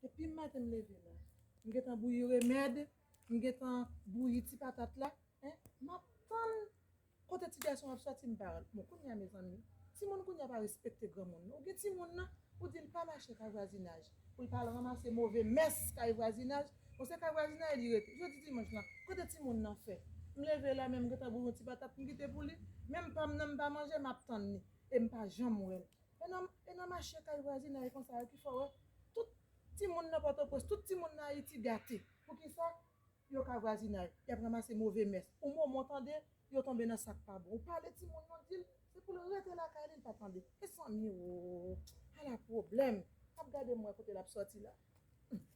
Depim maten m leve la m gentan bouyi remèd m gentan bouyi ti patat la hein map tann kote ti gason ap sòti m pa rantre bon kounya mezanmi timoun kounya pa respekte granmoun non ou gen timoun nan ou dil pa mache kay vwazinaj poul pa al ranmase move mès kay vwazinaj bon se kay vwazinay li rete jodi dimanch lan kote timoun nan fè m leve la menm m gentan bouyi yon ti patat m kite pou li menm pam nan m pa manje map tann ni em pa janm wèl E nan e nan mache kay vwazinay konsa yo ki fè w wè tout timoun nan Pòtoprens, tout timoun nan Ayiti gate. Poukisa? Yo ka vwazinay, y ap ranmase move mès. Ou moman w tande, yo tonbe nan sa k pa bon. Ou pale timoun nan, di l se pou l rete lakay li, l pa tande. Mezanmi woo! Ala pwoblèm! M ap gade m wè kote l ap sòti la. Humm!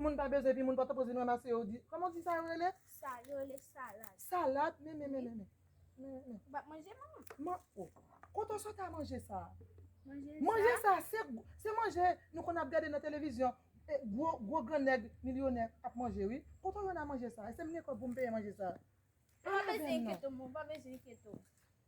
Moun pa bezwen epi moun pa ta poze nou ramase yo di. Kòman w di sa yo rele? Sa yo rele salad. Salad? Men men men men men. Men men men. Ou pa manje manman? Man o. Kote w sot a manje sa a? Manje sa. Manje sa se se manje nou konn ap gade nan televizyon. Gwo gwo gran nèg milyonè ap manje wi. Kote w jwenn a manje sa a? Èske m gen kòb pou m peye manje sa a? Ou pa bezwen enkyete w manman. Ou pa bezwen enkyete w.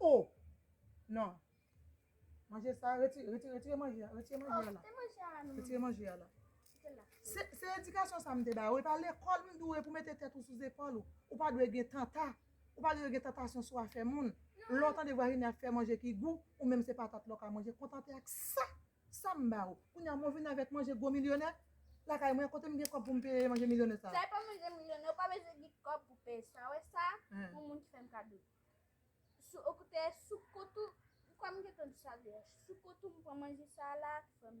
Oh non manje sa retire retire retire manje a retire manje a la retire manje a la se edikasyon sa m te ba ou e pa lekòl m dwe pou mete tèt ou sou zepòl ou ou pa dwe gen tanta ou pa dwe gen tantasyon sou afè moun lè w tande vwazinè ap fè manje ki gou ou menm se patat lè w ka manje kontante ak sa sa m ba ou kounye a mwen vin avèk manje gwo milyonè lakay mwen kote m gen kòb pou m peye manje milyonè sa a sa e pa manje milyonè ou pa bezwen gen kòb pou peye sa wè sa pou moun ki fè m kado. Sou okoutè sou kot ou m kwè m gentan di sa vre a sou kot ou m pran manje sa la frè m.